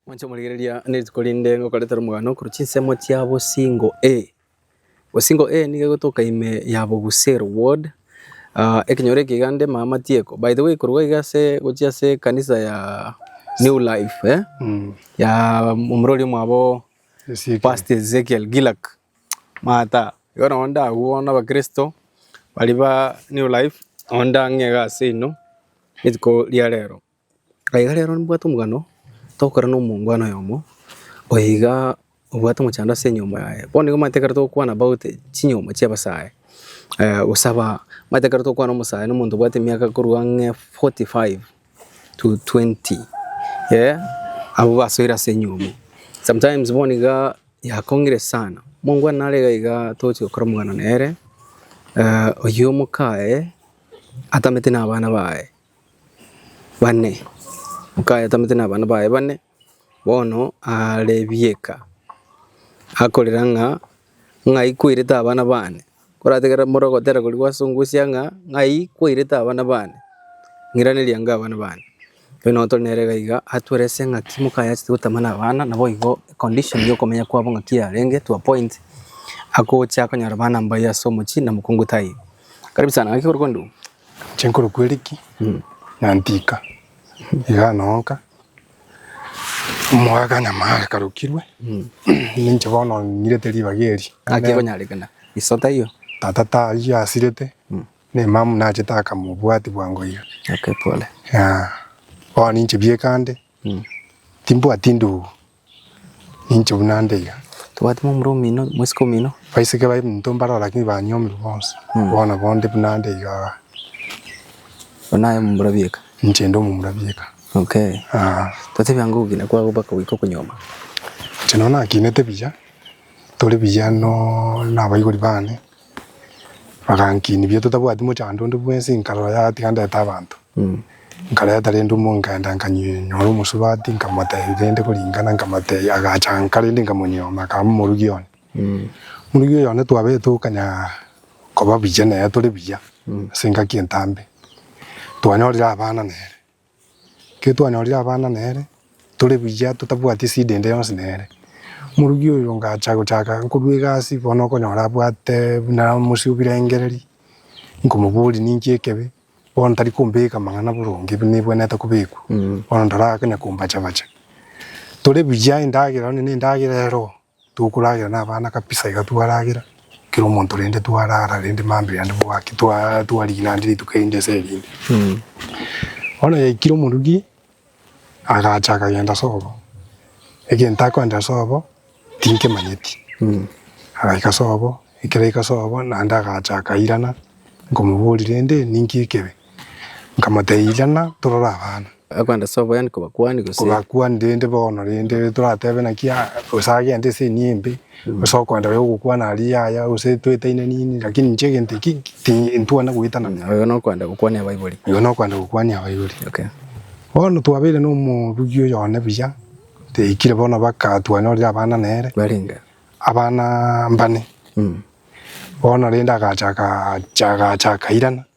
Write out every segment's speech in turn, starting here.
Mwanche komorigereria nerituko rinde ngokoreta romogano korwa chinsemo chia bosingo A. Bosingo A nigo egotoka ime ya bobusero, ward, ah, ekenyoro eke iga nde ime amatieko. By the way korwa iga ase gochia ase ekanisa ya New Life, eh, ya omorweri oria omwabo Ezekiel. Pastor Ezekiel Gilak, mata, igo nabo ndagwo bono abakristo baria ba New Life, nabo ndang'ee iga ase inwe rituko ria rero. Na iga rero nibwate omogano togokora na omongwana oyomo oyo iga obwate omochando ase enyomba yaye. Bono nigo omanyete ekero togokwana about chinyomba chia abasae, gosaba, omanyete ekero togokwana na omosae na omonto obwate emiaka korwa ang'e forty five to twenty eh, abwo basoire ase enyomba. Sometimes bono iga yakong'ire sana, omongwana nare iga iga togochia gokora omogano nere, oyio omokaye atamete na abana baye. bane, okayatamete nabana baye bane, bono aare ebieka, akorera ng'a ng'ai kwairete abana baane? Korategerera more ogotera korigwa ase ongosia ng'a ng'ai kwairete abana baane? Ng'iraneria ango abana baane. Rirorio nabo tore nere iga iga, atwerese ng'aki mokayachete gotema nabana, naboigo econdition yokomenya kwabo ng'aki yarenge to a point, agocha konyora abana mbaya ase omochie na mokungu taiyo. Karibu sana, ng'aki ore kondua? Chinkoro kweriki na ntika iga nonka omogaaka nyamara karokirwe ninche bono nyirete ribaga eri. Naki ekonyarekana iso taiyo. Tata taiyo asirete nemamu nachete akama obwati bwango iga. Bono ninche biekande timbwati ndugu Ninche buna nde iga. Tobwate momura omino, mwesike omino. Baiseke babe minto mbaroo lakini banyomirwe bonsi. Bono bo nde buna nde iga. Bono aye omomura bieka. Ninche nde omomura bieka. Okay. Ah. Totebi ango ogokina kwago baka goika okonyoma. Inche no nakinete buya, tore buya no nabaibori bane. Bagankinia biato tabwati mochando onde bwensi, nkarora yatiga ndete abanto. Nkareta rende omonge nkaenda nkanyora omosubati nkamotebia rende koringana nkamotebia agachanka rende nkamonyioma akaba momorugi one. Morugi oyo one twabete tokanya koba buya nere tore buya ase engaki entambe, twanyorire abana nere. Ekero twanyorire abana nere, tore buya totabwati esida ende yonsi nere. Omorugi oyo ngacha gochaka nkorwa egasi bono okonyora abwate buna omosie o birengereri, nkomoboria ninki ekebe, bono tari kombeka amang'ana boronge ebi nebwenerete kobekwa, bono ntarake na kombacha bacha. Tore buya endagera onye ne endagera ero Tokoragera nabana kabisa iga twaragera, kera omonto rende twarara rende mambia yande bwaki twa twarigina ande rituko erinde ase erinde. Bono yaikire omorugi agacha akagenda sobo, egento akoendera sobo tinkemanyeti, agaika sobo ekero aika sobo naende agacha akairana nkomoboria rende ninki ekebe. Nkamotebia, Irana, torore abana. Akwenda ase oboyani kobakuani gose? Kobakuani rende bono rende toratebe naki aa gose agente ase enia embe gose okwenda oyo ogokwana aria yaya gose twetainanini lakini inche egento eki ti ntwana goetana na. Oyo nokwenda gokwania abaibori. Oyo nokwenda gokwania abaibori. Okay. Bono twabeire na omorugi oyo one buya, toikire bono baka twanyorire abana nere. Barenge? Abana mbane. Bono rende agachaka acha agachaka irana.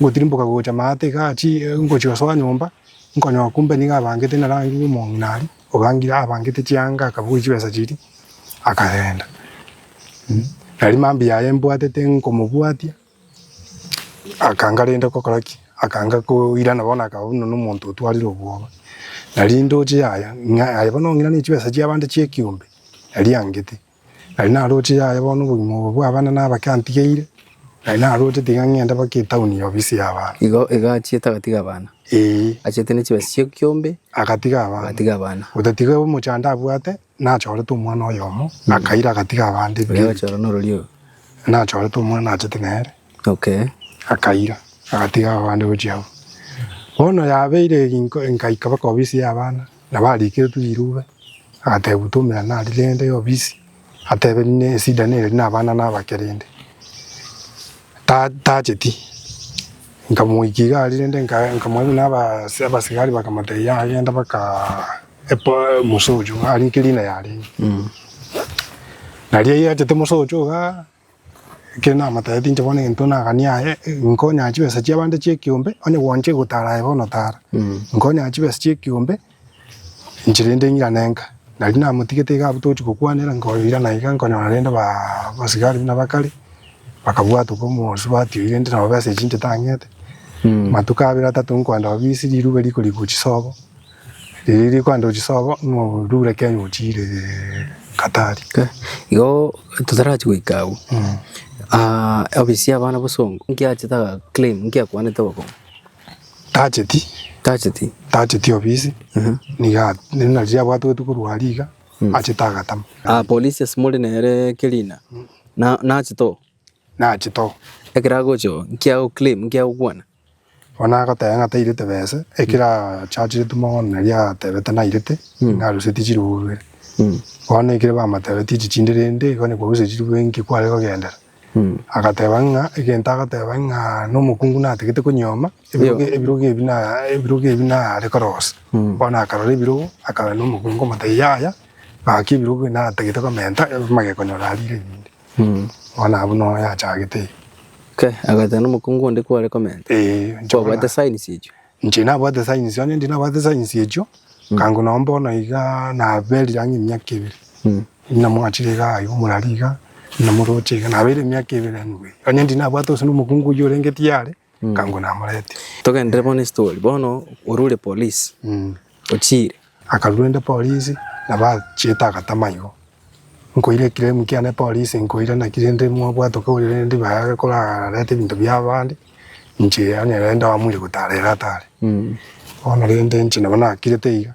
Ngotirimboka gocha maate iga aachie ngochia gosoa nyomba, nkonyora kumbe nigo abangete na rangi y'omong'ina aria obangire abangete chianga akabugia chibesa chiria akagenda. Nari mambia yaye mbwatete nkomobwatia akanga rende gokora ki? Akanga koirana bono akaba buna nomonto otwarire obwoba. Nari ndoche yaya ng'a aye bono ong'ina ne chibesa chiabande chi'ekiombe nari angete. Nari naroche yaye bono obogima obo bw'abana n'abake antigeire, nari narochete iga ng'ende mpaka etauni ya obisi y'abaana. Igo, igo achiete agatiga abana, Ee, achiete ne chibesa chiaye kiombe, agatiga abana. agatiga abana. Otatiga omochando abwate, nachorete omwana oyomo, akaira agatiga abande Oria ebinto ebike. agachora n'ororia oyo. Nachorete omwana achete nere, Okay. akaira agatiga abande gochia abwo. Bono yabeire ginko, nkaika mpaka obisi y'abana. Nabo ariikeretwe irube, agateebwa toumera nari rende y'obisi, atebe rinde esida neri nabana naba kerende tacheti. Nkamoika iga ari rende nkamorabia naba abasigari bakamotebia agende baka musocho ari nkerina yarenge. Naria yachete musocho igaa. Ekero namatebete inche bono egento nagani aye, nkonyaa chibesa chiabande chi'ekeombe, onye gwancha gotara aye bono tara. Nkonyaa chibesa chi'ekeombe, inche rende ng'irane nka. Nari namotigete iga abwo togochia gokwanera, nkoirana iga nkonyora rende baa abasigari buna bakare, bakabwata oka omobasu batioyi rende nabo besa echio inche tang'ete. Matuko abere atato nkoenda obisi, riruba riko rigwa chisobo. Riria rikwenda ochisobo norure Kenya ochire Katari. Okay. Igo totarachi goika agwo. Mm. Ah, obisi ya abana bosongo. Nki achete aga claim, nki akwanete ogokora. Tacheti, Tacheti. tacheti obisi. Mhm. Niga nina riria abwate gotu korwa aria iga achete agatama. Ah, polisi ase more nere Kerina. Na nachete oo. Nachete oo. Ekero agocha oo, nki ago claim, nki agokwana. Bono agoteba ng'a tairete bese, ekero achacherete mogondo nari atebete nairete, ng'a arusetie chiribu bibere. Bono ekero bamotebetie chichindi rende, igo niko arusetie chiribu bibere nki kware kogendera. Agateba ng'a egento agoteba ng'a na omokungu natigete konyuoma, ebirogo ebirogo ebi na ebirogo ebi nare korosia. Bono akarora ebirogo, akarora na omokungu, omotebia yaya, gaki ebirogo ebi natagete komenta, amageko nyora arire rende. Bono abwo noyo yachagete eye. Ke, agoetera nomokungu onde kwore komenta? Ee, inche bono Kwabwate na- signs echio? inche nabwate signs, onye ndi nabwate signs echio, kango nonye bono iga naberire ang'e emiaka ebere. Inamwachire iga aye omorari iga, inamoroche iga, nabeire emiaka ebere anyway. Onye ndi nabwate gose nomokungu oyio orenge tiyare, Nkango namoretie. Togenderere bono estory. Bono orure police. Ochire. Akarura ende polisi na bachete agatama igo nkoire claim kiane polisi nkoire naki rende mwabwate okoria rende baye korarete ebinto bia abande inche onye rende abamuire gotara ere atare bono rende inche nabo nakirete iga.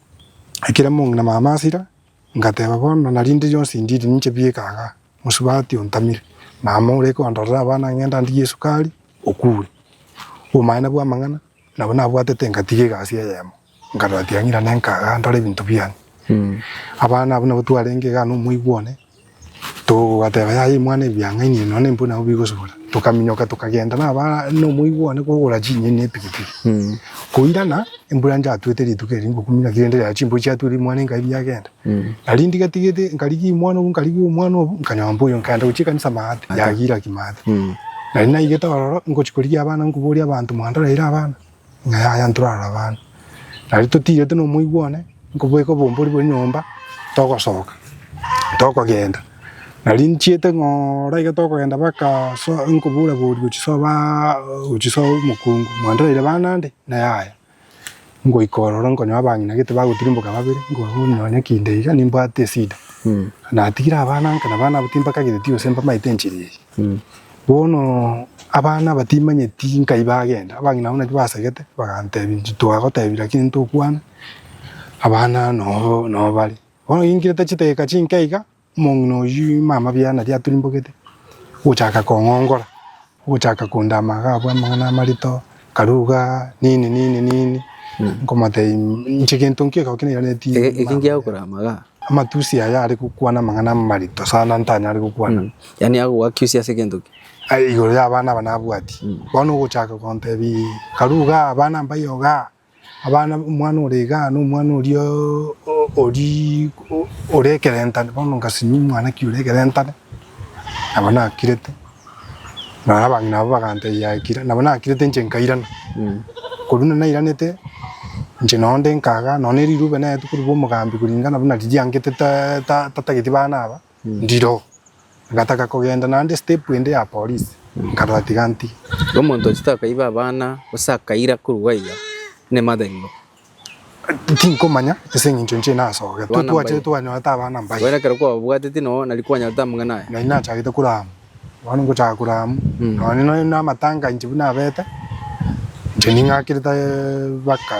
Ekero mong'ina na mama asira, ngateba, Bono na rinde rionsi ndiri ninche bieka aaga, mosubati ontamire. Mama ore kondorera abana ng'enda ndigie esukari, okure. Obomanene bw'amang'ana nabo nabwatete ngatiga egasi eyemo, nkarora tiang'ira nenka aaga ndore ebinto biane. Abana abwo nabo twarenge igaa nomoibi one, Togateba, Yaya imwana ebiang'aini ebi, nonya ebiang'aini nabwo bigosibora. Tokaminyoka tokagenda nabare nomoigwano kogora chinyeni na epikipiki. Koirana embura yatuete rituko erio ngokumia naki rende chimbori chiatura imwana enka ebi yagenda. Nari ndigatigete nkarigia imwana obo nkarigia omwana obo nkanyomba oyo nkagenda gochia ekanisa maate, yagira ki maate. Nari naigete ororo ngochia korigia abana nkoboria abanto mwandorire abana? Ng'a yaya ntorara abana, nari totiirete nomoigwa one, nkobweka obombori bwe nyomba, togosoka, tokogenda. Nari nchiete ng'a ora iga tokogenda baka so nkobura bori gochisoba gochisoa omokungu, mwandereire bana ande? Ng'a yaya. Ngoika ororo nkonye abang'ina gete bagotirimboka babere, nkonyonya kinde iga nimbwate esida. Natigire abana nka na abana abo timbakagete tigose mbamaete enchera eye. Bono abana aba timanyeti nkai bagenda, abang'ina abwo naki basegete bagantebia inche twagotebia lakini ntokwana, abana nobo nobo bare. Bono ginkirete chidakika chinke iga, omong'ina oyio mama biane naria aturimbogete, ogochaka kong'ongora, ogochaka kondama iga abwo amang'ana amarito. Akaruga, Nini, nini, nini, nkomotebia inche gento nki ekero kende nairaneti Ege- ege mambia ngiagokora aya? amaga Amatusi aya are gokwana amang'ana amarito sana ntanyare gokwana. Mm. yaani agogakiusia ase egento ki Aye igoro y'abana aba nabwati. Bono ogochaka kontebia Karuga, abana mbayoga? Abana, omwana ore igaa, na omwana oria ori ore ekerentane, bono ngasinyia omwanake ore ekerentane, nabo nakirete, na abang'ina abwo bagantebia ekira, nabo nakirete inche nkairana. Korwa buna nairanete, inche nonya onde nkagaa, nonya ne riruube naetwe korwa bwa omogambi, kuringana buna riria riangete ta ta tatageti bana aba. Ndiro, ngataka kogenda naende step ende ya polisi, nkarora tiga nti. Omonto ochete akaiba abana gose akaira korwa gwaiga nemata imbe. Tinkomanya ase eng'encho inche nasogete. Abana mbaye. Twachete twanyorete abana mbaye. Bono ekero kwababwateti noo nari kwanyorete amang'ana aya. Na inachagete korama. Bono ngochaka korwa amo, nonya nonya na amatanga inche buna abete, inche ning'akire ta baka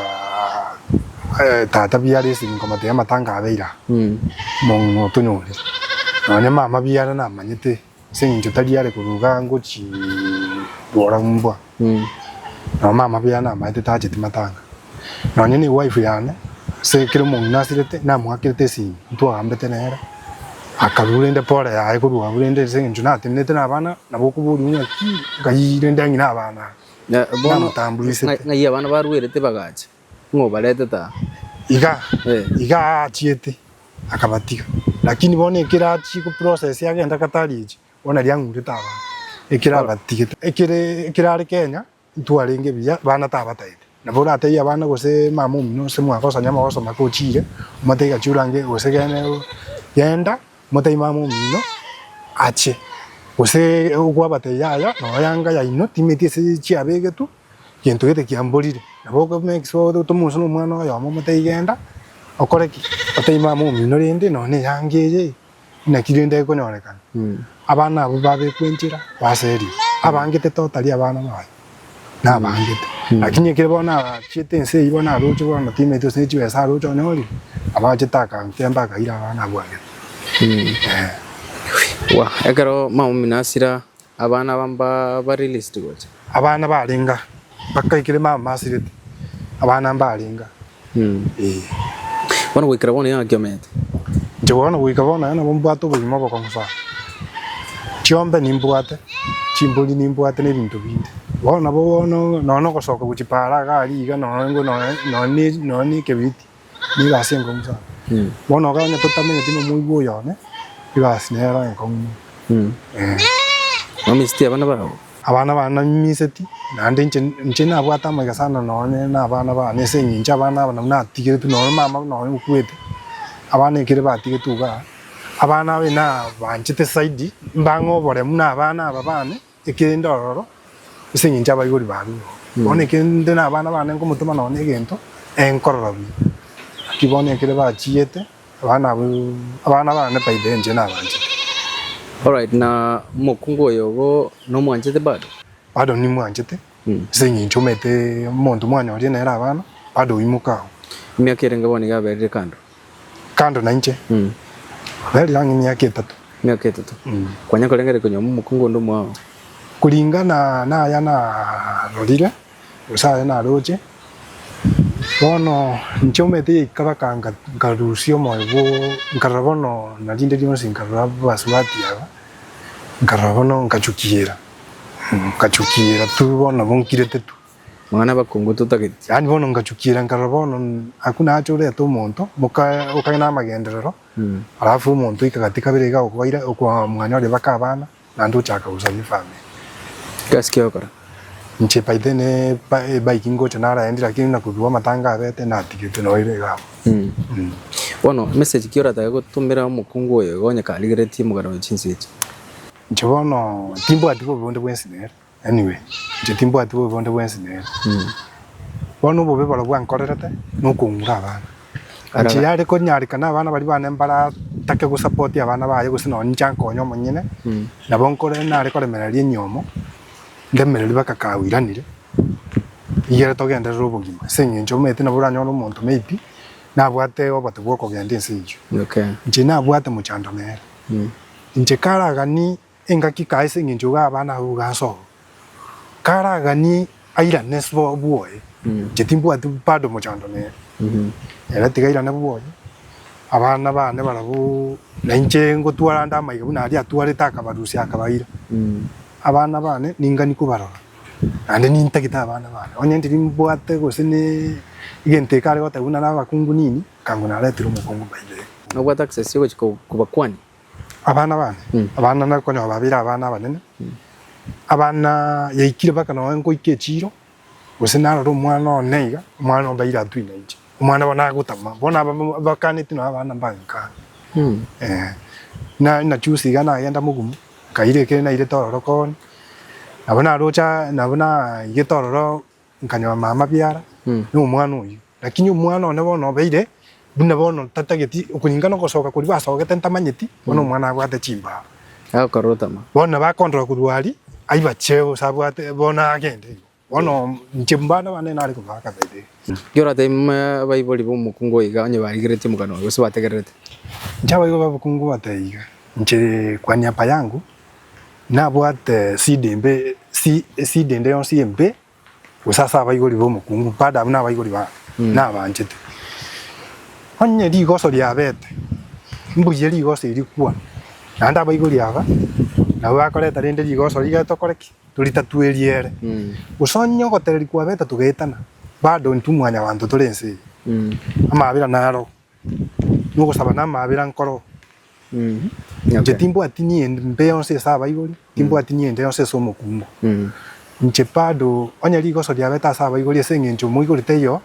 eh, tata biya are ase nkomotebia amatanga abeire aa, mong'ina otonyorire. Nonya mama biya are namanyete, ase eng'encho tari are korwa igaa ngochii rora mbwa. Nao mama b'Yane amaete tacheti matanga, nonya newife yane, ase ekero omong'ina asirete, namoakerete esimi, ntwagambete nere, akarua rende pore yaye korua abwo rende ase eng'encho natenenerete nabana, nabo okoboria ng'a ki, ng'ai rende ang'ina abana aba? Na bono Namotamburisete. ng'ai abana baruerete bagacha, ng'a obaretete aa? Iga, Eh. iga aachiete, akabatiga. Lakini bono ekero achia goprocessia agenda Qatar echi, Bono riang'urete abanto ekero abatigete. Ekere ekero are Kenya ntwarenge buya bana tabatayete nabo oratebie abana gose mama omino gose mwaka osanya amagoso make ochire omotebie gachi orange gose gene genda omotebie mama omino ache gose okwabatebia yaya nonya yanga yaino timeti ase chiabegetwe gento gete kiamborire nabo oko make sure otome gose nomwana oyomo omotebie genda okore ki otebie mama omino rende nonya na eyanga eye. Naki rende egonyorekana abana abwo babekwa enchera ase erio, abangete to tari abana baye, nabangete. Lakini ekero bono achiete ense eyio bono aroche bono timaeti gose ne chibesa aroche onyorire, abachete akantemba akaira abana abwo agete. Ekero mama omino asira Abana aba mbabarilisti gocha. Abana barenga bakaikire mama masirete abana mbarenga ee. Bono goikera bono yona kiomete. Inche bono goika bono aye nabo mbwate obogima obokong'u sana. Chiombe nimbwate, chimbori nimbwate ne ebinto binde. Bono nabo bono nonya nogosoka gochia paara iga aria iga nonya nonya ne ekebiriti. Nigo egasi enkong'u sana. Bono iga onye totamenyeti nomoigwa oyone, egasi nero enkong'u mono. Eeh. Mwamiseti abana babo? Abana bane namiseti, naende inche inche nabwate amaiga sana nonye na abana bane ase eng'encho abana aba nabwo natigeretwe nonye mama buna oyo okwete, abana ekere batigetwe igaa, abana aba nabanchete zaidi, mbang'e oboremu na abana aba bane, Ekerende ororo, ase engencho abaibori barure oo, bono ekero inde nabana bane nkomotema nonya egento, ee nkorora buya. Naki bono ekero bachiete, abana abo abana bane faida enche nabanchete. Alright, na omokungu oyo igo nomwanchete bado? Bado nimwanchete, ase engencho omanyete omonto mwanyoria nere abana, bado oimoka agwo. Emiaka erenge bono iga aberire kando? Kando nainche. Mm. Rarire ang'e emiaka etato. Emiaka etato. Mm. Kwanya korengere konywa momokungu onde omwao. Kuringana naya narorire, gose aya naroche, bono inche omete yaikabaka nkarusia omoyo bwo nkarora bono narinde rionsi nkarora abasubati aba, nkarora bono nkachukiera, nkachukiera tu bono nabo nkirete tu. Mang'ana abakungu totageti. Yaani bono ngachukiira nkarora bono aku nache orete omonto moka okagenda namagenderero alafu omonto oika gati kabere iga okobaira okoa mwane oria baka abana naende ochaka gosabia efamiri. Egasi ki ogokora. Inche by then ebike ngocha naraendi lakini buna kobigwa amatanga abete natigete noo ere iga abwo. Bono message ki oratake gotumera omokungu oyo iga onye karigeretie omogaro owe chinse echi? Inche bono timbwati bobe bonde bwensi nere. Anyway, inche timbwati bobe bonde bwensi nere. Bono obobe borobwo ankorerete nokong'ura abana. Ara- Inche yare konyarekana abana baria bane mbaratake gosupport abana baye gose nonye inche ankonye omonyene, Mm. nabo nkore nare koremereria enyomo, ndemererie mpaka kawiranire, igere togenderere obogima. Ase eng'encho omanyete nabo oranyore omonto maybe nabwate obote bw'okogenda ense eyio. Okay. Inche nabwate mochando nere. Mm. Inche karagani Engaki kae ase engencho iga abana abwo igansa oo. Karaganie airane sbo bwoye. Inche timbwati bado omochando nere. Ere tiga airane bwoye. Abana bane barabwo na inche ngotwara nde amaiga buna aria atwarete akabarusia akabaira. Abana bane ningani kobarora. Naende nintagete abana bane. Onye timbwate gose ne egento ekare goteba buna nabakungu nini, ekang'u naretire omokungu by the way. Nabwate access yogochia kobakwani. Abana bane, abana nari konya babeire abana abanene, abana yaikire mpaka nonya ngoika echiiro, gose narore omwana one iga, omwana obe aire atwine inche, omwana bono agotama, bono aba bakaneti nonya abana mbange kare, eh. Na nachusa iga nagenda mogumu, nkaira ekero nairete ororo kooni, nabo naroche nabo naigete ororo Nkanyora amabiara na omwana oyio, lakini omwana one bono obeire buna bono tatageti, okuringana ogosoka koria gwasogete ntamanyeti, bono omwana abwate chimbao. Akorotama. Bono nabo akondora korwa aria, aibache gose abwate bono agende igo. Bono inche mbare abana nare kobaa kabere. Ekero oratebia buna abaibori b'omokungu oyo iga, onye barigereti omokano oye gose bategererete. Inche abaibori b'omokungu bateba iga, inche kwa niaba yangu nabwate esida embe esi esida ende yonsi embe gose ase abaibori b'omokungu bado abwo nabaibori ba nabanchete. Onye rigoso riabete mbuya rigoso eri rikwana naende abaibori aba nabo bakoreta rende rigoso riria tokore ki? Toritatwe eriere. Gose onye ogotereri kwabete togaetana bado intwe mwanyabanto tore ense eye amabera naro Nogosaba namaabera nkoro. Inche timbwati niende mbe yonsi ase abaibori, timbwati niende yonsi ase omokungu. Inche bado onye rigoso riabete ase abaibori ase eng'encho omoibori taiyo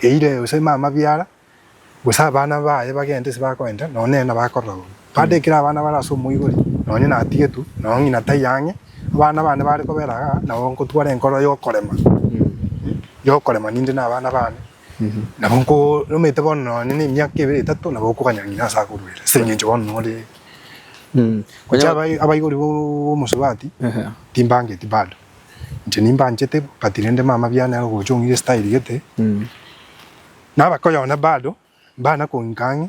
eire gose aime amabiara, gose abana baye bagende ase bakoenda, nonye nere nabo akorora bobe. Bado ekero abana bare ase omoibori, nonye natigetwe, nonye ng'ina taiyo ang'e, abana bane bare kobera igaa, nabo nkotwara enkoro yokorema, yokorema ninde na abana bane. Nabo nkoromete bono nonye na emiaka ebere etato nabo okoganya ng'ina ase akoruere ase eng'encho bono nore Mm. Gocha Onya- abai- abaibori b'omosubati Ehe. timbangeti bado inche nimbanchete but rende mama biane are gocha ong'ira estyle gete Mm. naba koyona bado mbana kong'ika ang'e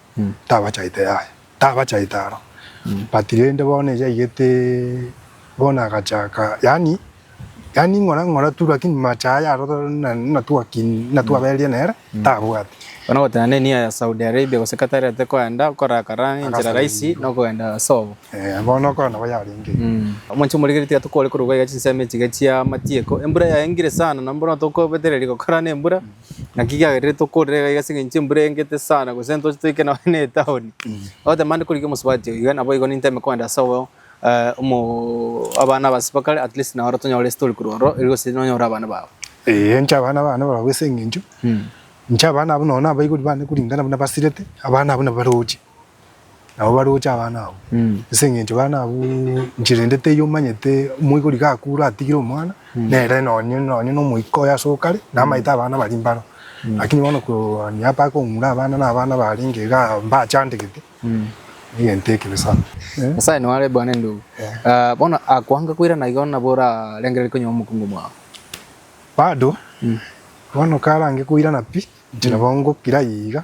Tabachaete aye, tabachaete aro. But rende bono eria aigete bono agachaka yaani yaani ng'ora ng'ora tu lakini macho aye aro na na twaki na twabereria nere tabwati. Bono ogoteba nde nia ya Saudi Arabia gose Qatar ate koenda okoraka ran enchera Agasaba rahisi ebibe. nokogenda ase obo. Eh bono okora nabo yarenge. Omonche omorikeri tiga tokoore korwa iga iga chinsemo echiga chia amatieko. Embura yaengire sana, na mbono tokobetereria gokora nembura. Naki kiagerire tokorera iga iga ase engencho embura eengete sana, gose ntoche toike nonya na etaoni. Ogoteba mande koriki omosubati oyo iga, nabo igo ninteme kogenda ase obo eh, omo abana abasio bakare at least nao ore tonyore ase tori korwa ororo, eri gose nonya ore abana bao. Ee, inche abana bane barabwo ase engencho, inche abana abwo nonya nabaibori bane koringana buna basirete, abana abwo nabaroche. Nabo baroche abana abwo, ase eng'encho bana abwo inche rende teiyo omanyete omoigori gakure atigire omwana, nere nonye nonye na omoika oye ase okare, namaete abana baria mbaro. Lakini bono kooni apa kong'ura abana na abana barenge igaa mbachandegete, egento ekebe sana. Nyasae nao are bwane ndugu. Ah, bono akoange koirana igo nabo orarengererie konyora omokungu mwao. Bado, bono karange koirana pi, inche nabo ngokira iga,